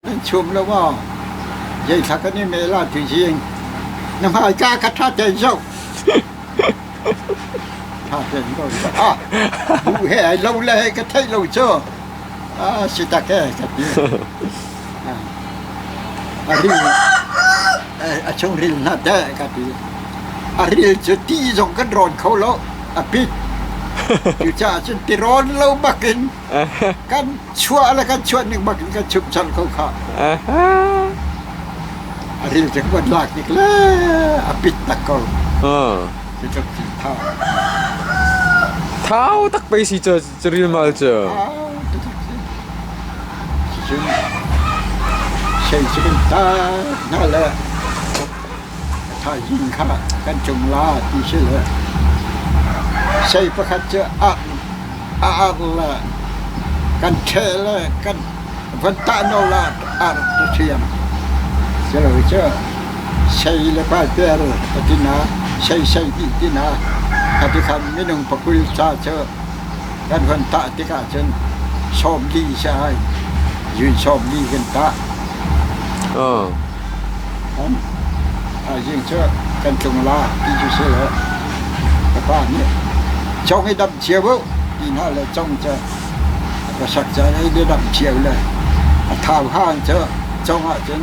Nan chum lo aw. Zeithla kan i mel ah tuizing. Na hmaika ka tha ten zong. Tha ten ko. Ah, bu he ai lo le he ka theih lo cu. Ah, si tak he ka ti. Ah. A ril eh, a chung ril na te ka ti. A ril cu ti zong kan rawn kho lo. A pit. Cu ca cun ti rawn lo bakin kan Chuah le kan chuah ning bak in kan chumh cang ko khah. A ril te kan lak nik le a pit tak ko. Cu tluk thil tha. Thau tak pei si cu cu ril mal cu. Au tu tluk thil. Cu cun sei cu kan ta hna le Thaizing kha kan ṭung la ti si le sei pakhat cu a arh le kan ṭheh le kan van tahnawl arh ti ṭhiam. Culohi cu sei le paiter ka tinak, sei sei dih tinak ka tikham minung pakul ca cu kan van tah tikah cun sawm li si ai, zun sawm li kan tah. Thaizing cu kan tlung la ti cu si lo. Ka pa nih chong i damh cio uh ti hna le cong cu a khuasak ca in i damh cio le a thau hang cu cong ahcun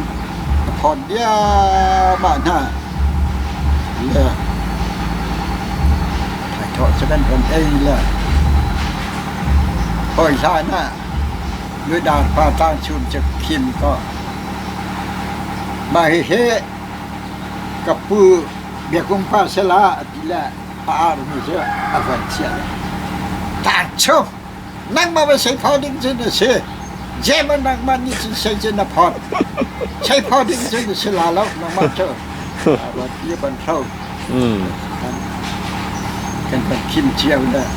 a thawn diahmah hna le thaithawh cu kan von ei le hawi hlan ah Midang pa tlangchung cu khin kaw mah hihi ka pu biakung pa sela ti le a armi cu a van chiah le tlangchung nangmah va sei kho ding cun a si German nangmah nih cun sei cun na phawt sei kho ding cun a si la lo nangmah cu a van ti a van hro. Kan kan khim cio dah.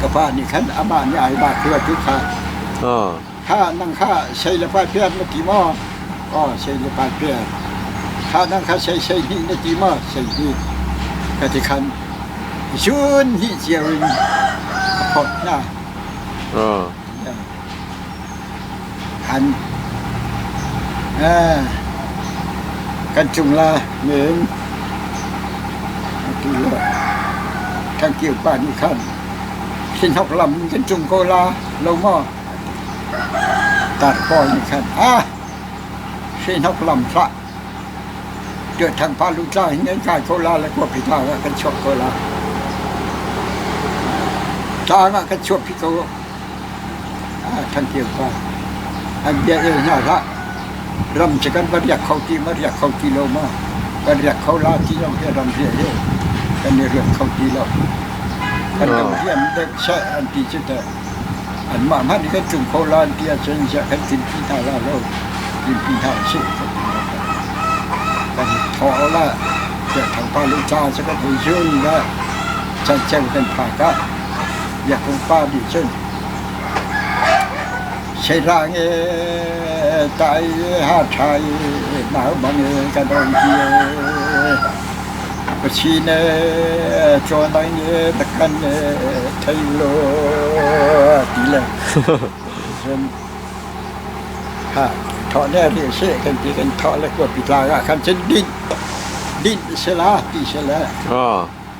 Ka pa nih khan amah nih ai ba khua tu kha. Kha nang kha sei le pa piar na ti maw? Aw sei le pa piar. Kha nang kha sei sei hnih na ti maw? Sei hnih. Ka ti khan chun hnih cio in a phot hna. kan cung la men ati le kan kir pa nih khan khinhok lam in kan cung ko la lo maw ati tar pawl nih khan a hrinhok lam hlah tuahthang pa lutla hin an kai ko la le kuaphi tlang ah kan chuak ko la tlang ah kan chuak phi ko Ṭhantio kha an bia eu hna hlah, ram cu kan va riak kho ti ma riak kho ti lo ma, kan riak kho la ti lo hi ram riah hi kan i rianh kho ti lo. Kan lo hriam dek seh an ti cu teh anmah hmanh nih kan tlung kho la an ti ahcun ziah kan tlinpi hna la lo, tlinpi hna a si ka ti lo kan. Kan thaw le tiah thawngpang le ca cu kan hei zun le chan ceu kan phak ah Biakinn pa nih cun Sehlang e tai ha ṭhai nau bang e kan dong hi e Kachin e Chawnaing e Dakan e Thailo ti le cun ha thawh ne ri seh kan ti kan thawh le kua pi tlang ah khan cun dinh dinh se la ti se le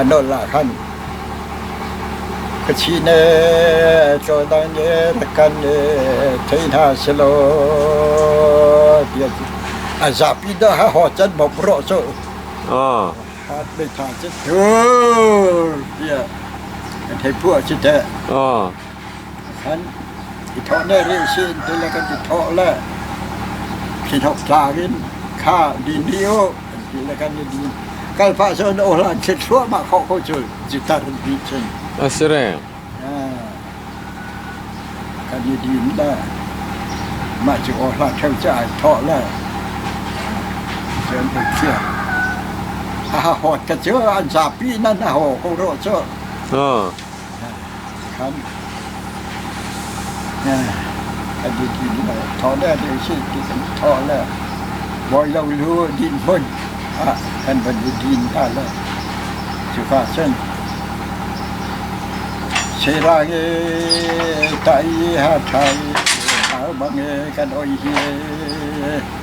A nol ah khan ka thi ne cawdang ne takan ne thei hna selaw tiah a zapi dah ha ho chan mo pro so ah hat me tha che tiah kan thei pua si te ah I thawh ne rih usih in tile kan ti thawh le thlihnok tlang in kha din dih u an ti le kan i din. Kal pah cun ohlan thlit thluahmah khawh ko cu citar an ti cun. A si re. Kan i din le mah cu ohlan theo ca ai thawh le cun ei thiang. A ha hawt ka cu an zapi nan a haw ko rawh cu. Ha. Tikhan kan i ti ding ah thawh le deh si tikhan thawh le bawi lo lu din hmun ah kan van i din hna le cuka cun Selange tai ha thai har bange kan oi hi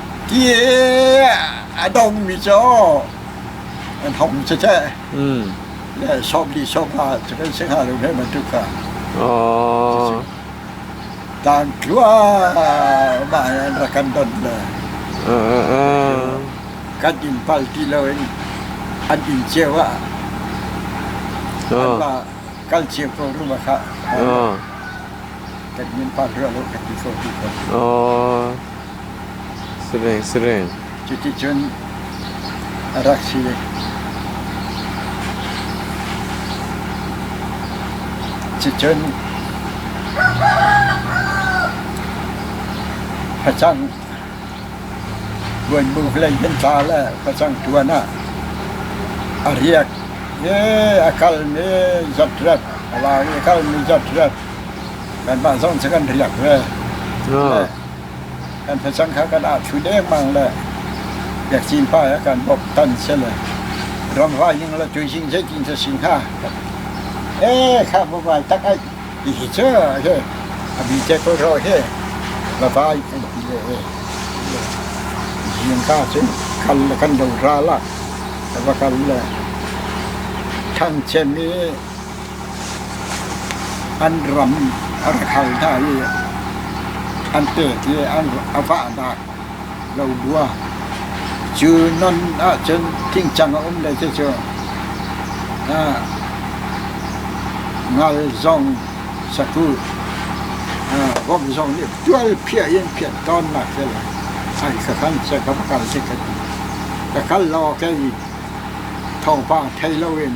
Ti a dongmi cu an hong tete. Mm. Yeah, shop li shop ha cu kan sing ha lo ne bantuk ka. Oh. Dan tlua ma an rakan don le. Kan in pal ti lo in an in ceu ah. An ma kan ceu ko ruma ka. Kan in pal ro lo kan ti ko ti ko. Oh. Cuticun a rak si. Cucun facang buanbuk lei nan tla le facang ṭuan ah a riak i a kalmi zatrat a lau i a kalmi zatrat kanmah zong cu kan riak ve. Kan thlacam kha kan ahṭhu dengmang le biakcin pa he kan bawmh than si le ramvai ning le tuizing zeitin cu a si hnga? Ee khabu vai tak aih tihi cu a si. A bi te ko ro hi va vai an ti le ee. Zing ka cun kal le kan lo ral ah a va kal le thang cem i An ram a rak hal hna i an tet i a vah hna lo bua. Cu non ahcun thingcang a um le cucu ngal zong saku vom zong nih tualphiah in phiah tawnnak hi a lang. Ai ka kal seh ka va kal seh ka ti. Ka kal lo ah kei thawngpang thei loin.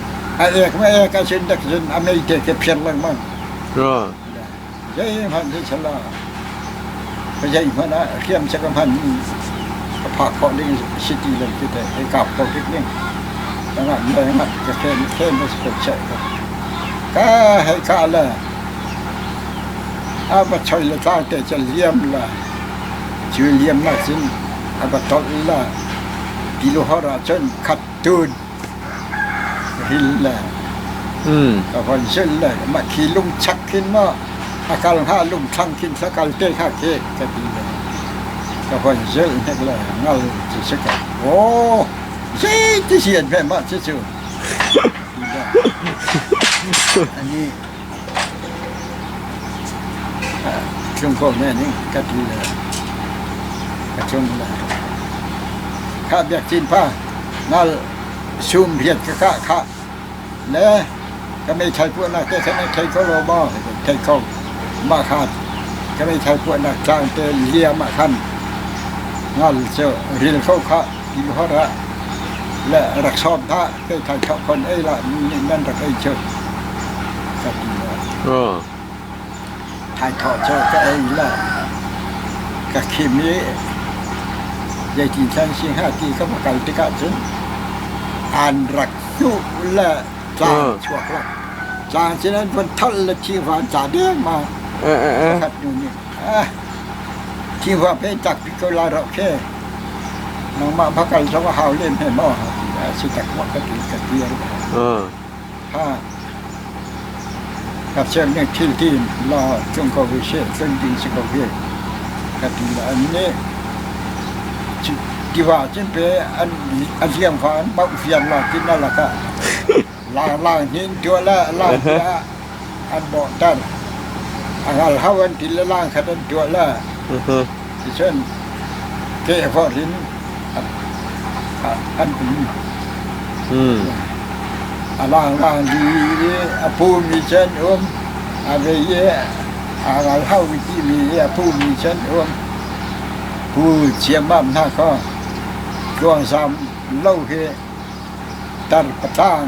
A ek ma ek a sin dak cun a mei te ke phiang lengmang. Zei hman si sala. Ka zei hman a kiam se ka hman ka phak khawh ding city lam cu te e kap ko dik ning. Tanga me nga ka ken ken as ko che ka. Ka hei ka la. A ba choi la ta te cha liam la. Chu liam na cun a ba tol la. Pilu hora chun khat Tun ril le a von zulh le makhi lung chak khin maw a kal hnga lung thlang khin thla kal te hnga ke ka ti le ka von zulh hnek le ngal cu si ka aw zei ti sian ve mah cu cu ti le ani Cungkaw hme ning kat li le a cung le khah biakcin pha nal sum riat ka kah khah le ka meithal puahnak te theng in thei ko law maw thei ko mah khan ka meithal puahnak tlang te liam ah khan ngal cu ril ko khah ti hor ah le rak sawm hlah. Khalkha khakhon ei lah nan rak ei cu ka ti le thai khawh cu ka ei le ka khim i zeitin san si hnga ti ka va kal tikah cun an rak hnuh le tlang chuak lak tlang cun an van tholh le thi van tla dengmang pakhat hnu nih Tiva pe tak hi ko la rawh khi. Nangmah va kal zong a hau lem he maw a si tak maw ka ti ka ti an ka. Ha. Ka sian nih thil tin la cung ko hi se cung tin si ko hi ka ti la an nih tiva cin pe an liang fa an bauh fian la tin na lakah. Laarlaang hi an tuah le a laang ti ah an bawhter. A ngal hau an ti le laang khat an tuah le ticun kehvor in an um. A laanglaang di i a pumi cu an um. A vei i a ngal hau mi ti mi i a pumi cu an um. Pu Chiam Mam hna kho, tluang zam lo hi Tarpaṭang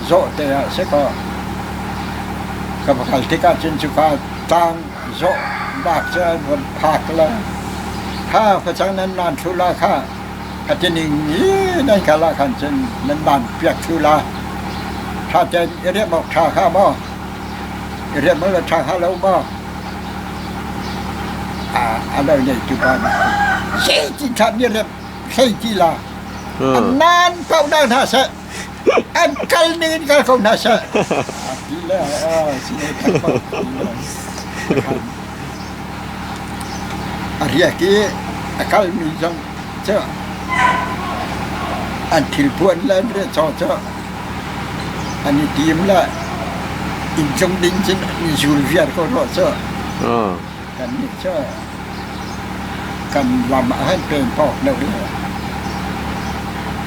zawhte ah si kaw ka va kal tikah cun cuka tang zawhnak cu an vun phak le kha facang nan nan ṭhula kha ka tining i nan kal ah khan cun nan nan piak ṭhula ṭha tein i riamh awk ṭha hnga maw? I riamh awk ṭha hnga lo maw? A lo neitu pa nih zeitin ṭhan i riamh? hlei ti la an nan ko hna hna seh an kal ning in kal ko hna seh a ti le a si ne kal ko ti le a riak i a kal mi zong cu an thil puan le an riah chaw cu an i tim le inn cung ding cun an i zul viar ko rua cu kannih cu kan ram ah han pen phawk deuh le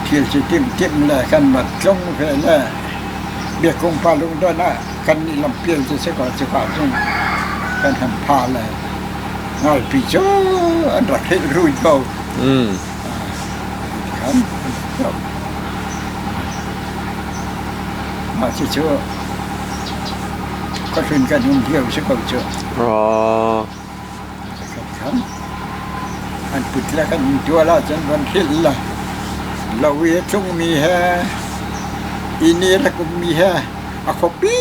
thil cu timhtimh le kan mat tlung ve le biakung pa lungdon ah kannih lam pial cu si ko cuka cun kan han pha le ngalpi cu an rak heh ruit bo mm. ah, khan mah cu cu khuahlun kan um hio si ko cu An put le kan ṭual ahcun van khil. Lo i a tlungmi he, inn i rak ummi he, a khuapi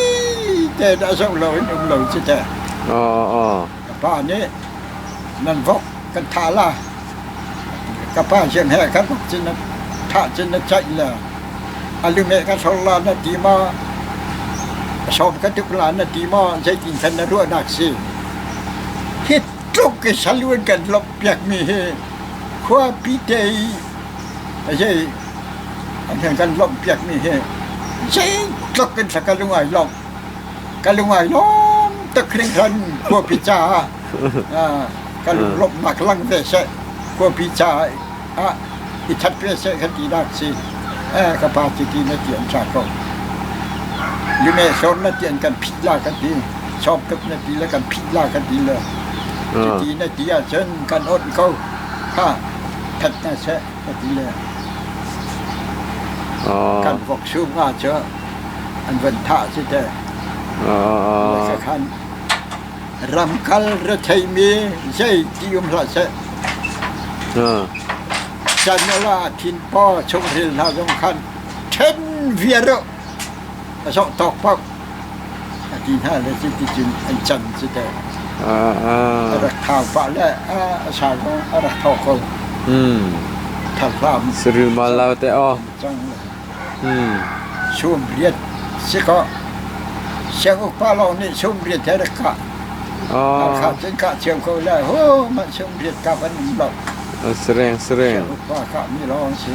te dah zoh lo in um lo cu teh. A pa nih, nan vok kan thah la. Ka pa sian he ka hluk cun, thah cun a caih le a lungeh ka thlor lan a ti maw, ka sawm ka tuk lan a ti maw, zeitin khan na ruahnak si? Hi tluk i salun kan lawmh piakmi hi khuapi te i a zei an kan lawmh piakmi hi zeitluk in thlak ka lung ai lawmh. ka lungai lawm tuk ning cun khuapi caah ka lunglawmhnak lang ve seh khuapi caah i that ve seh ka tinak si ka pa cu ti na ti an ṭha ko lumehsawr na ti an kan phit la ka ti chawk tuk na ti le kan phit la ka ti le cuti na ti ahcun kan awnh ko ha that hna seh kan vok sum nga cu an van thah si te khan ramkal re theimi zei ti um hlah seh chan la thin pa chung ril hna zong khan then viar A sawh tawk pak a ti hna le cuticun an cam cu teh a rak thau pah le a sar bang a rak tho ko. Tharhlam Sirima lo te aw. Cang le sum riat si ko. Siangukpa lawng nih sum riat he rak kah. Hakha cun kah cio ko le ho mah sum riat kap an um lo. Sereng sereng. Siangukpa kah mi lawng si.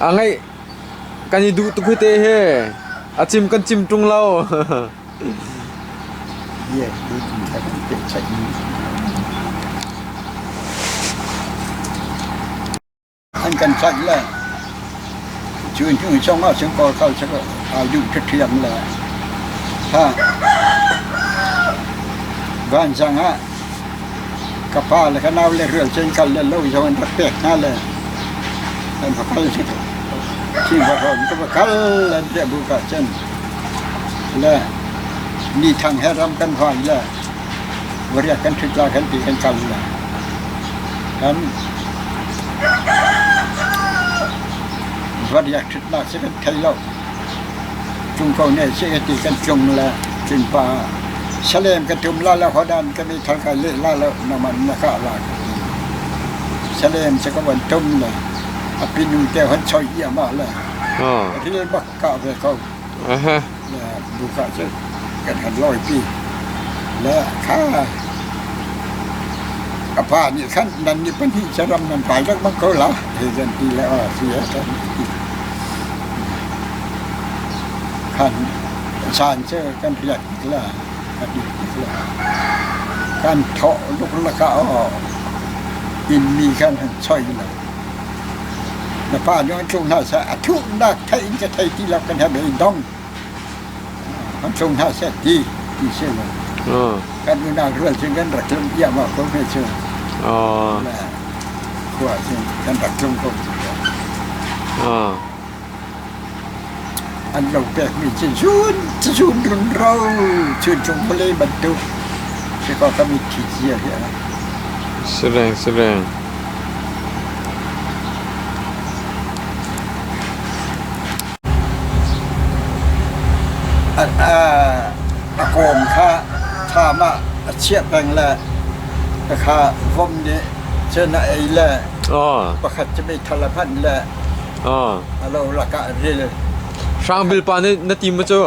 A ngeih kan i duh tuk hite hi. A cim kan cim ṭung lo. Yeah, we haven't been checking. An kan cat le cu hnu song ah sin kor kal sel a du ṭut thiam le ha van sang ah Ka pa le ka nau le rianṭuan kal le lo zong an rak pek hna le an va kal cu Chinfahrawn ka va kal an tiah buk ahcun le Nithang he ram kan hoi le variat kan ṭhut lai kan ti kan kal le kan variat ṭhutnak cu kan thei lo. Tlung ko ne seh ati kan tlung le tlunpa salem ka tum la le hodan kan i thal ka leh la le naman na kah la ka ti. Salem se ka van tum le a pinu te hon choi i amah le ril bak kah ve ko. Le buka cu kan han loi pi. Le kha a pa nih khan nan ni pahnih saram nan pai rak manh ko la he zan ti le a si he tan. Caan cu kan riat tiklah, kan riat tiklah kan thawh luklak ah aw innmi kan han choi lo. Na pa nih a tluk hna seh a thuhnak theih in ka thei ti lo kan he bei dong. kan tlung hna seh ti ti si lo. Kan unau rual cu kan rak tlung diam ah ko hme cu. Khua cun kan rak tlung ko cu. An lo pekmi cu zun zun run ro cun tlung pale bantuk si ko ka mit thi cia hi a. Sireng sireng. a kawm kha thlam ah a chiah peng le ka kha vom nih cun a ei le pakhat cu meithal a phanh le a lo lakah a ril. Hrangbil pa nih na tim maw cu?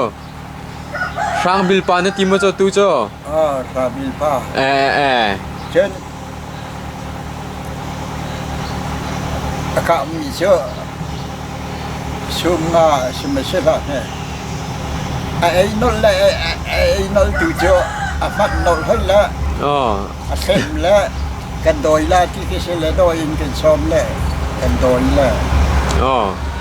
Hrang Bil pa na ti maw cu tu cu? Ah, Hrang Bil pa. Eh eh. Cun a kahmi cu sum nga si ma si hlah ne. A ei nol le a ei nol tu cu a mat nol hol le Oh. a thlem le kan dawi la ti ki si le dawi in kan sawm le kan dawi le Oh.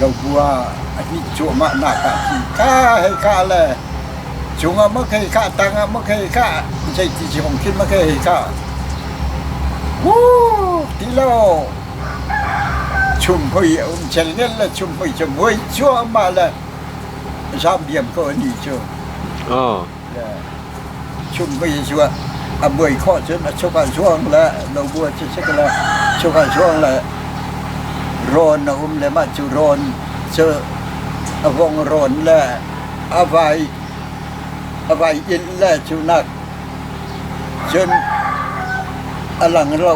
Lobu ah a hnih cuahmahnak ah hin ka hei kah le cung ah maw kei kah, tang ah maw kei kah, zeiti ci hong khin maw kei hei kah. Wuu ti lo chung hoi a um chel nel le chung hoi cu muai cuahmah le zam diam ko a ni cu. le chumh ka Jesuh ah a buai khawh cun a chuk an suang le lo bu cu sik le chuk an suang le rawn a um le mah cu rawn cu a vong rawn le a vai a vai in le cu nak cun a lang ro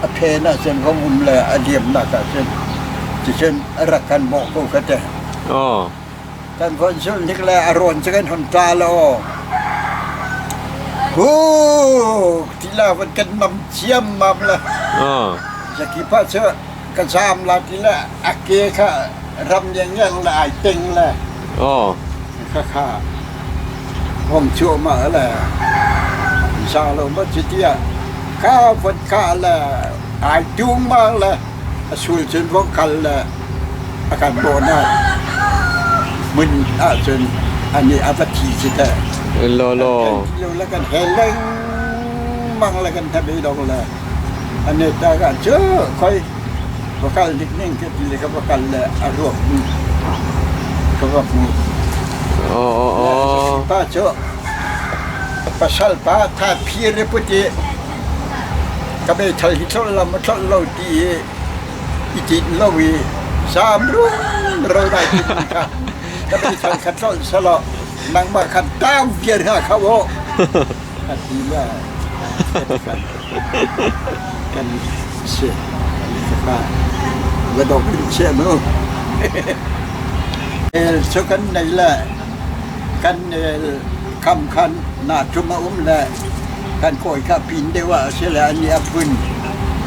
a phen ah cun vom um le a liamnak ah cun ticun a rak kan bawh ko ka ti. Aw. Kan von zulhnik le a rawn cu kan hon ṭa law, hu ti la van kan mam ciammam le zaki pa cu ka zaam la ti le a ke kha ram ngiangiang le ai teng le khakha hong cuama le za lo ma cu tiah ka von ka le ai ṭung ma le A sul cun vok khal le a kan bawhnak hmun ahcun a nih a va thi cu teh. Lawlaw. Le kan he lengmang le kan thabe dong le a net ta ka cu khoi va kal dik ning ka ti le ka va kal le a ruak ka va hmu. Oh oh oh. Pa cu pasal pa tha phi re puti. Ka meithal hi thlolh lam a thlolh lo ti i i tinh lo i zaam rualrual lai ti ti kha ka meithal kha thlolh selaw nangmah kha tau viar hna kho u ka ti le kan si ka va dok in chia mu el so kan nei le kan el Kam khan naa ṭum a um le kan kawi kha pin deuh ah a si le an i a phun.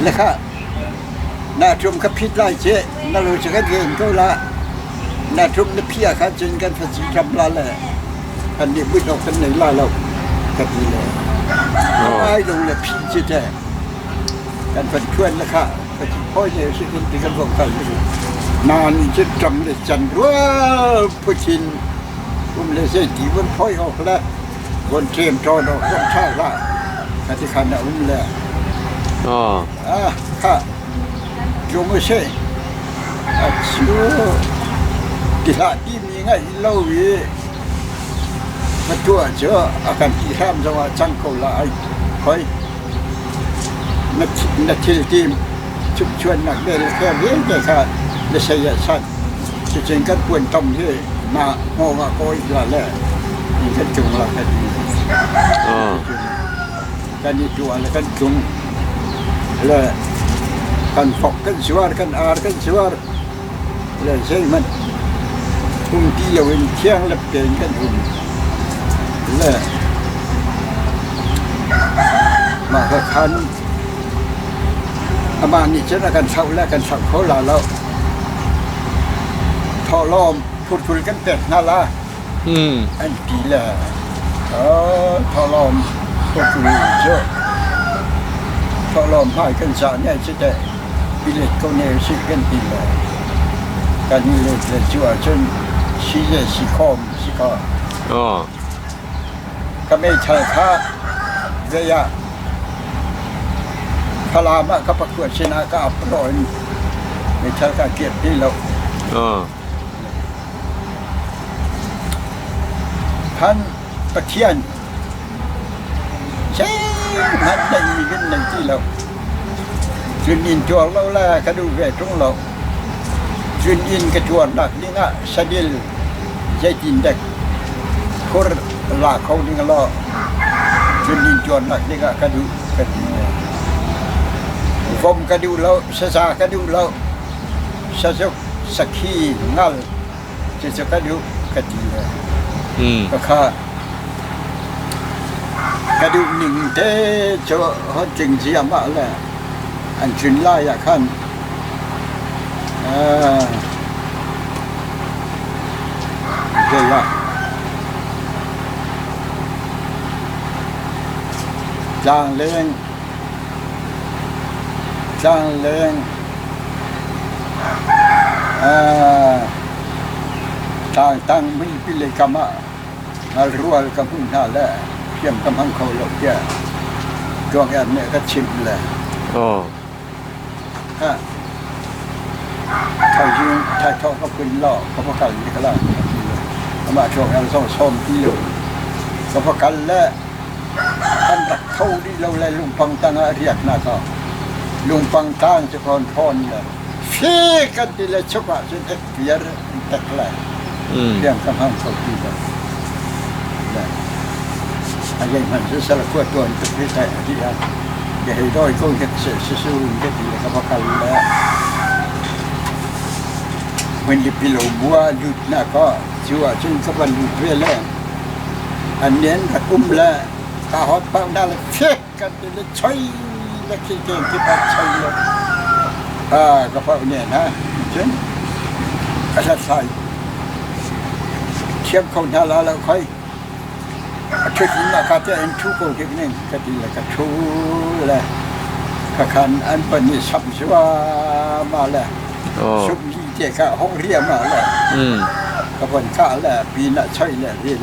Le kha naa ṭum ka phit lai ce na lu cu kan ven ko la. Na ṭum na phi ah khan cun kan fatsi ṭam la le kan nih muih awk kan nei la lo ka ti le. Ai lung le phi cu teh kan van ṭhuan le kha Nain cu ṭam le can rual putin um le zei ti vun phoi awk le vun ṭem ṭawn awk zong ṭha hlah ka ti khan a um le ah ha jungu se a chiu ti hlah ti mi ngaih lo i ka tuah cu a kan ti hram zong ah cang ko la ai khoi Na thilti chukchuannak vialte vialte kha na saya sat. Cucun kan puanṭom hi na hnawngah ka oih la le in kan tlung la kan ti. Kan i tuah le kan tlung. Le kan thok kan suar, kan ar kan suar. Zeihmanh phungki lo in thianghlim tein kan um. Le mah ka khan amah nih cun a kan thlauh le a kan thlauh kho la lo. Thawhlawm phurphur kan pek hna la an ti le oh, thawhlawm phurphur cu thawhlawm hmai kan cah ni ai si teh. i let ko ne usih kan ti lo. Kan i let le cu ahcun si le si khawm si kaw Aw. ka meithal kha zei ah Falam ah ka pakua sinah ka ap law in meithal ka kirti lo. Aw. Kan Pathian zeihmanh neihmi kan nei ti lo. Chun inn tuar lo le ka duh ve ṭung lo. Chun inn ka tuarnak ding ah sadil zeitindek khur la kho ding law chun inn tuarnak ding ah ka duh ka ti ve. Vom ka duh lo, sasa ka duh lo, sazuk sakhi ngal cece ka duh ka ti le hmm. ka kha ka duh ning te cu hon tling zia ma le an cun lai ah khan Gela Tlang Leng Tlangtangmi pile kam ah rual ka hmuh hna le hriam ka hmang kho lo tiah Tluangian nih a ka chimh le. Thaithawng ka pun law ka va kal ni kala amah cuang el zo sawm ti lo ka va kal le kan tak kho rih lo le lungpang tang ah riat na ka lungpang tang cu kon thawn le fi kan ti le chuk ah cun piar i tek lai. Tiang ka hmang kho ti lo. Le a dei hman su sala kua tuan ka thi kai a ti a. Ke hei doi ko hek se se su un ke ti ka va kal le. When the pillow bua lut na ko chu a chun ka van lut ve le. An nien ra kum le ka hot pak na le phek kan nih le choi na thil te ti pa choi le a ka pa ne na cun a hlat sai thiam kho hna la lo khoi a thut na ka te an thu ko ke ne ka ti le ka thu le ka khan an pani sap zuwa ma le sup li te ka ho riam ma le ka bon ka le pi na choi le ril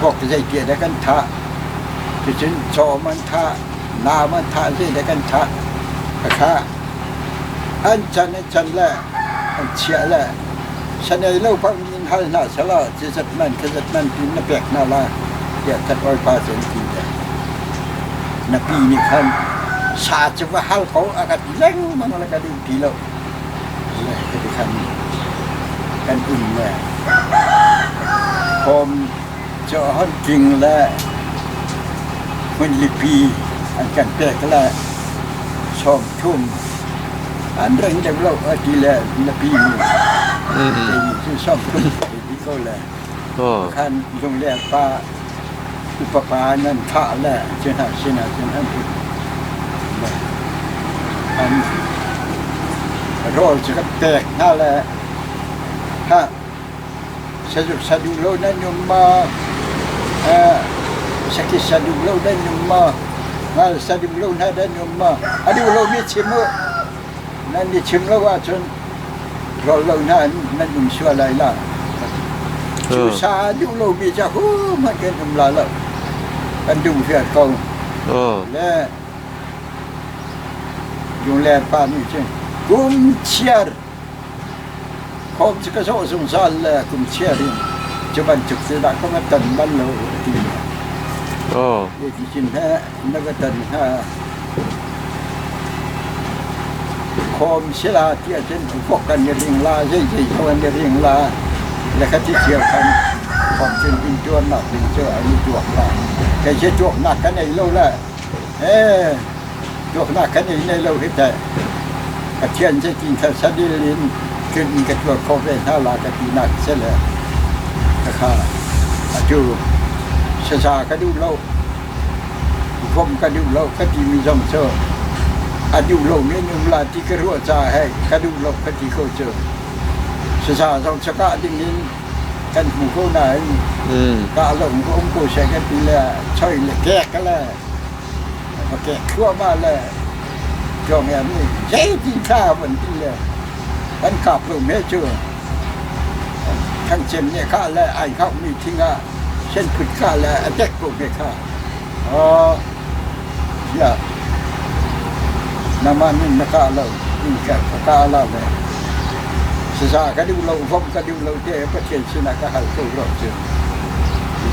Vok zeiti dah kan thah? Cucun cawm an thah, laam an thah zedah kan thah. A thlah. An can an can le an chiah le shan ei lo bang in hal hna selaw cizat man cizat man tiin na pek hna la tiah thathawipa cu an ti ve. Na pi nih khan sa cu va hal ko a ka ti lengmang le ka duh ti lo. Hiti khan kan inn le home cu hon tling le hmunlipi an kan pek le sawmthum an ring lem lo a ti le napi nih kei cu sawm kul ka ti ko le khan lungler pa Upapa nan thah le cuhna sinah cun an uk. An rawl cu ka pek hna le hah saduh saduh lo nan um maw? Eh, sakit saduh lo nan um maw? Ngal saduh lo hna nan um maw? A duh lomi chim u. Nan i chim lo ahcun rawl lo hna in nan um sual lai lo. Cu sa a duh lomi cu ahohmanh kan um la lo. Kan dum hriat ko. Le lungler pa nih cun kum chiar khawm cu ka sawh zungzal le kum chiar in cu bantuk cu dah ka va tan bal lo a ti hna. Hi ti cun heh na ka tan hna. Khawm sila ti ahcun tukok kan i ring la, zei zei zo an i ring la. Le ka ti cio khan khawmchin ding tuarnak ding cu an i tuak la. Kei cu tuaknak kan ei lo la. Eh, tuaknak kan ei nei lo hi teh. Pathian cu ti thar sadil in tlun ka tuar kho ve hna la ka ti nak se le ka kha atu sasa ka duh lo Vom ka duh lo ka timi zong cu a duh lo men um la ti ka ruah caah hei ka duh lo ka ti ko cu. Sasa zong cu kah ding in kan hmu ko nain mm. kah lo ko um ko se ka ti le choi le kek le kek thluahmah le cuang em ni zeitin kha van ti le kan kap lo me cu kan chem ne kha le ai kap mi thing ah Shanphut khah le a dek ko te kha tiah nangmah min na kah lo in ka kah la le sasa ka duh lo vom ka duh lo te Pathian sinah ka hal ko rau cu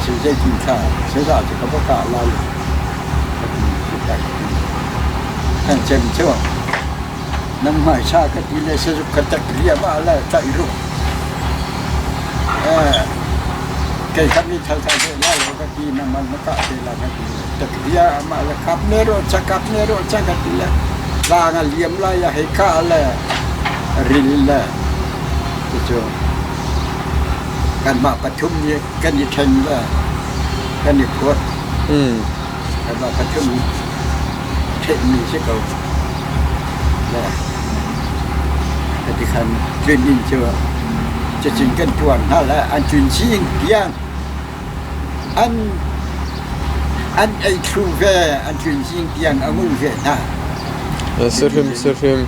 ti zeitin kha sasa cu ka va kah la le ka ti si tak ti kan chem cu nan hmaisa ka ti le sazuk ka tek liam ah la tlaih ruh kei kha mi thal thal te la lo ka ti na man na kah te la ka ti le tek lia amah le kap ne ro cha kap ne ro cha ka ti le la nga liam la ya hei ka le ril le cucu kan mah pathum ni kan i then le kan i kuat mm Kanmah kha cun ṭhenhmi a si ko. Ne? Natikhan tlun inn cu cacun kan tuar hna le an tlun chin tiang an an ei thlu ve an tlun chin tiang a ngul ve hna. Sihrim sihrim.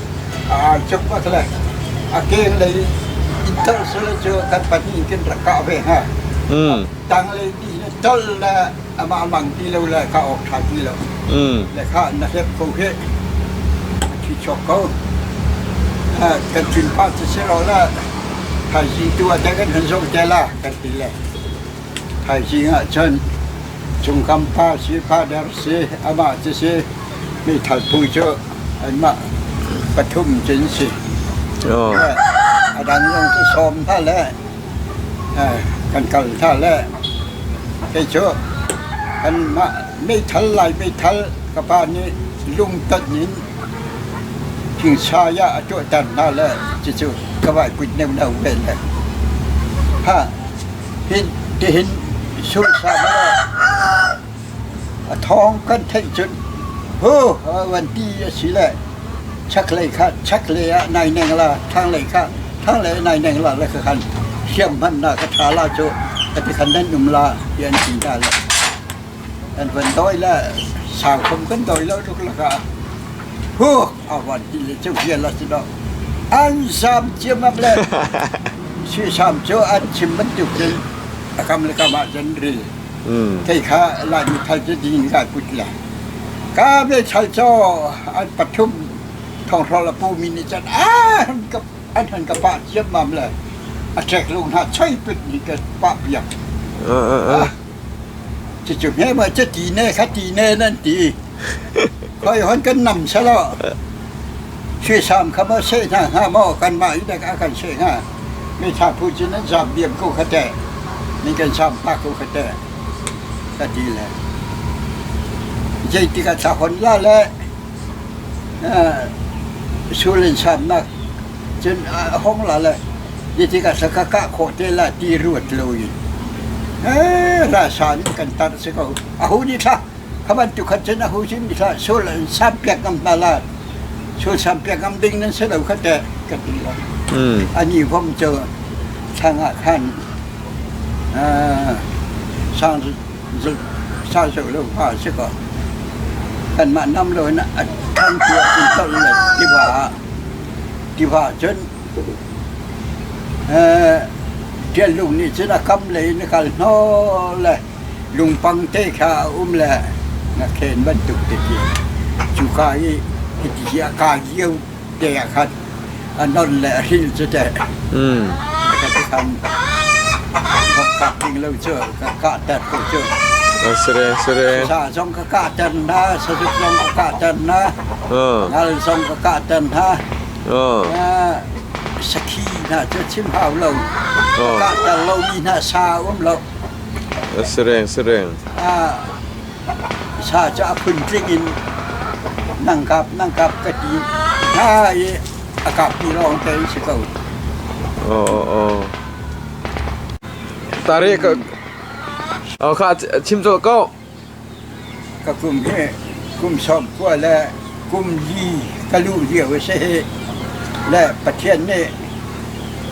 A kenglei inn tolh sule cu kan pahnih in kan rak kah ve hna. Mm. Tanglei nih le tolh le amah lang ti lo le ka awk ṭha ti lo. Mm. Le ka na hlep ko khi a thi chok ko. Kan thin phan sisiraw le thaizing tu a dek an han zoh te la kan ti le. Thaizing ahcun Chungkam pa si, father si, amah cu si, meithal phu cu anmah pathum cu an si. Aw. A dang zong cu sawm hna le eh, kan kal hna le kei cu kanmah meithal lai meithal ka pa nih lungtonh in thingshai ah a tuahter hna le cucu ka vai kut neuh neuh ve le. Hah, Tihin sunhsam law a thawng kan theih cun hu a van ti asile chaklei kha chaklei ah nai neng la, thanglei kha thanglei ah nai neng la la ka khan hriam hmannak a ṭha la cu a ti khan nan um la ti an ti hna le an van dawi le sau khom kan dawi lo tuk lakah hu avan ti le cu vial a si lo. An zam ciammam le suisam cu an chim bantuk cun a kam le kam ah cun ril thei kha Laimi thal cu dingin kai put le ka ve chal caw an pathum thonghrawl a pumi nih cun an ka an han ka pah ciammam le a ṭek lo hna choi put nih ka pah piak. Cucu hmema cu tine kha tine nan ti i khoi hon kan nam selaw suisam kha maw seh hna hnga maw kanmah i dek a kan seh hnga? Mitha phu cu nan zaam diam ko kha teh, nan kan saam pah ko kha teh, ka ti le. Zeitik ah thlahon la le Sul in samnak cun a hung lal i hi tikah sa ka kah khawh te lai ti ruat lo in ralsam in kan tar a si ko. A hu nih thlah kha bantukhat cun a hu sin nih thlah sul an sam piak ngam hna lai. Sul sam piak ngam ding nan si lo kha teh ka ti lo. A ni hom cu thlang ah khan sang sau sawh lo fa a si ko. Kanmah nam lo in a than tuah in tolh le tiva ah tiva cun eh, tial lung nih cun a kam le in a kal hnawl le lungpang te kha a um le na khen bantuk te ti. Cuka i hiti hi a ka lio Tiai ah khan a non le a hril cu teh a ka ti khan vok kak ding lo cu ka kah ter ko cu. Sere sere. Sa zong ka kah ter na, sazuk zong ka kah ter na, ngal zong ka kah ter na. Sakhi hna cu chim hau lo, ka kah ter lo mi hna sa um lo. Sereng sereng. Sa cu a phun tling in nang kap nang kap ka ti hna i a kapmi lawng cu an si ko. Aw aw aw. Tari ka aw kha chim cawlh ko. Ka kum hi kum sawm kua le kum li ka luh lio a si hi le Pathian nih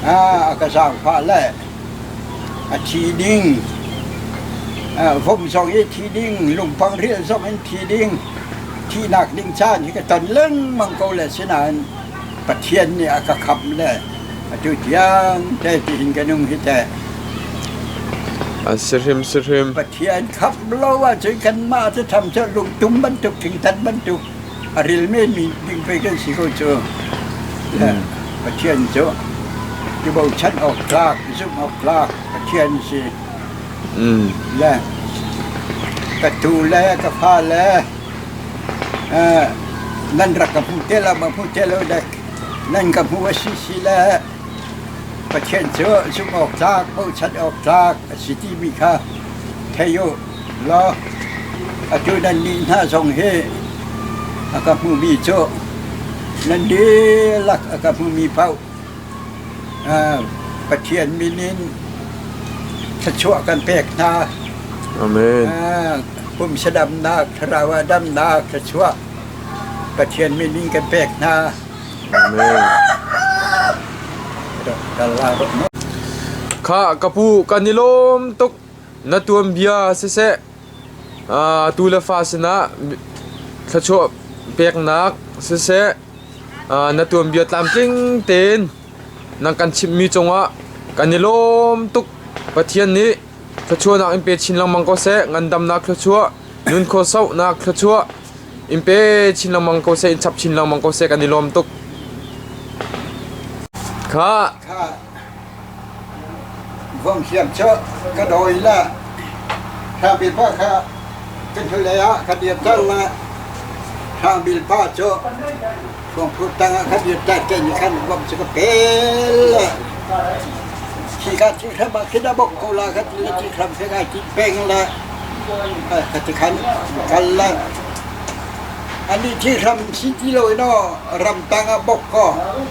a ka zaangfah le A thi ding, vom zong hi thi ding, lungpang rial zong in thi ding, thihnak ding caan hi ka ton lengmang ko le sinain Pathian nih a ka khamh le atu tiang te tihin ka nung hi teh. A si hrimsihrim. Pathian khamh lo ahcun kanmah cu tham cu lungtum bantuk, ṭhingtan bantuk a ril menmi ding pei kan si ko cu. Le Pathian cu i bochan awk tlak, i zumh awk tlak Pathian si. Le ka tuu le ka fa le eh, nan rak ka hmu te lo, ma hmu te lo dai. Nan ka hmu a si si le Pathian cu zumh awk tlak, bochan awk tlak a si timi kha thei u. Atutan ni hna zong hi a ka hmumi cu nan dihlak a ka hmumi paoh Pathian min in thluachuah kan pek hna. Amen. Kum sadamnak, thlarau ah damnak thluachuah Pathian min in kan pek hna. Amen. Khah ka pu kan i lawm tuk. Na tuanbia siseh atu le fa sinah thluachuah peknak siseh na tuanbia tlamtling tein nan kan chimhmi cungah kan i lawm tuk. Pathian nih thluachuahnak in pe chin lengmang ko seh. Ngandamnak thluachuah, nunkhaw sohnak thluachuah in pe chin lengmang ko seh, in chap chin lengmang ko seh kan i lawm tuk. Kha Vom hliam cu ka dawi la. Hrang bil pa kha kan hnulei ah ka dir tan la. Hrang bil pa cu Khuangphur tang ah ka dir tan te ni khan vom cu ka pel la. Khi ka ti kha ba khi da bok ko la ka ti la ti kram ke ka ti peng la. Ai ka ti khan kal la. Ani thi ram si ti lo ino ram tang ah bok ko.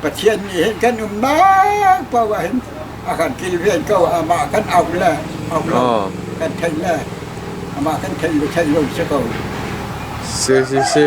Pathian nih hin kan umnak paoh ah hin a kan kilven ko. Amah kan auh le auh lo kan thenh le amah kan thenh le thenh lo si ko. Si, si, si.